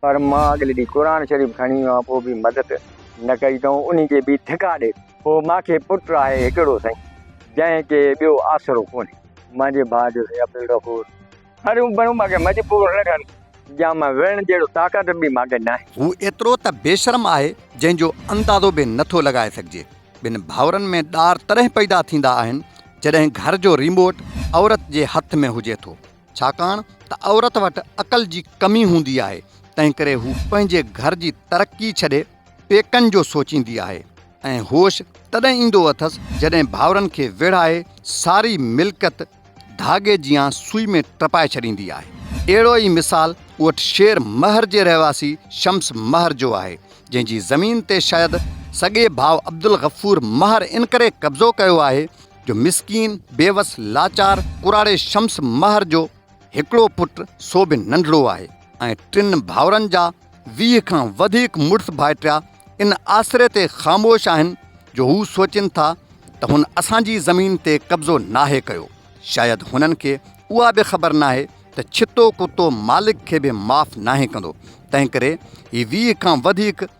پر مان اڳلي ڏينهن قرآن شريف کڻي ويو آهيان پوء به مدد نه ڪئي اٿئون انهي کي به ڌڪا ڏئي پوء مان کي پٽ آهي هڪڙو سائين جنهن کي ٻيو آسرو ڪونهي منهنجي ڀاء جو سائين عبدالغفور پريون پريون مان کي مجبور نه ڪن يا مان وڙهڻ جهڙو طاقت به مان کي ناهي. هو ايترو ته بيشرم آهي جنهن جو اندازو به نه ٿو لڳائي سگهجي ٻن ڀائرن ۾ ڏار تڏهن پئدا ٿيندا آهن جڏهن گهر جو ريموٽ عورت جي هٿ ۾ هجي ٿو ڇاڪاڻ ته عورت وٽ عقل جي ڪمي هوندي آهي، تنهنڪري هو پنهنجي گهر جي ترقي ڇڏي پيڪن جو سوچيندي آهي ۽ هوش تڏهن ايندو اٿس جڏهن ڀائرن کي ويڙهائي ساري ملڪيت ڌاڳي جيان سوئي ۾ ٽپائي ڇڏيندي آهي. اهڙو ئي مثال اوٺ شير مهر جي رهواسي شمس مهر جو آهي، جنهن جي زمين تي شايد سڳي ڀاء عبدالغفور مهر انڪري قبضو ڪيو آهي جو مسڪين، بيوس، لاچار، ڪراڙي شمس مهر جو هڪڙو پٽ سو به ننڍڙو آهي ۽ ٽن ڀائرن جا ويهه کان وڌيڪ مڙس ڀائٽيا ان آسري تي خاموش آهن جو هو سوچين ٿا ته هن اسان جي زمين تي قبضو ناهي ڪيو. شايد هنن کي اها به خبر ناهي ته ڇتو ڪتو مالڪ کي به معاف ناهي ڪندو، تنهنڪري هي ويهه کان وڌيڪ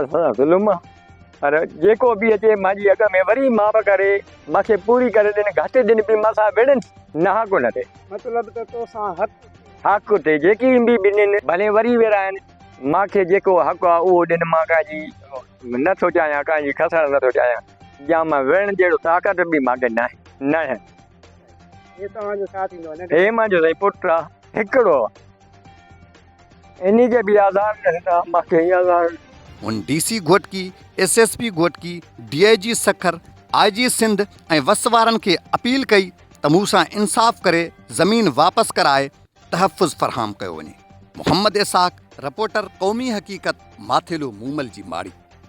اسان ظلم پر جيڪو به اچي مان جي اڳ ۾ وري ماپ ڪري مان کي پوري ڪري ڏن گهٽ ڏن به مان سان وڙهن نهاڪ نه ٿي مطلب ته تو سان حق حق تي جيڪي به ڏنين ڀلي وري ورائن مان کي جيڪو حق آ اهو ڏن مان ڪنهن جي نه ٿو چاهيان ڪنهن جي کسڻ نه ٿو چاهيان جا مان وڙهڻ جهڙو طاقت به مان کي ناهي ناهي هي توهان جو ساٿ ايندو هي منهنجو سائين پٽ آ هڪڙو انهي جي به آڌار نه هيندا ماکي هي آڌار. هن D C Ghotki, S S P Ghotki, D I G Sukkur, I G Sindh ۽ وس وارن کي اپيل ڪئي ته مون سان انصاف ڪري زمين واپس ڪرائي تحفظ فراهم ڪيو وڃي. محمد اسحاق، رپورٽر قومي حقيقت، ماٿيلو مومل جي ماڙي.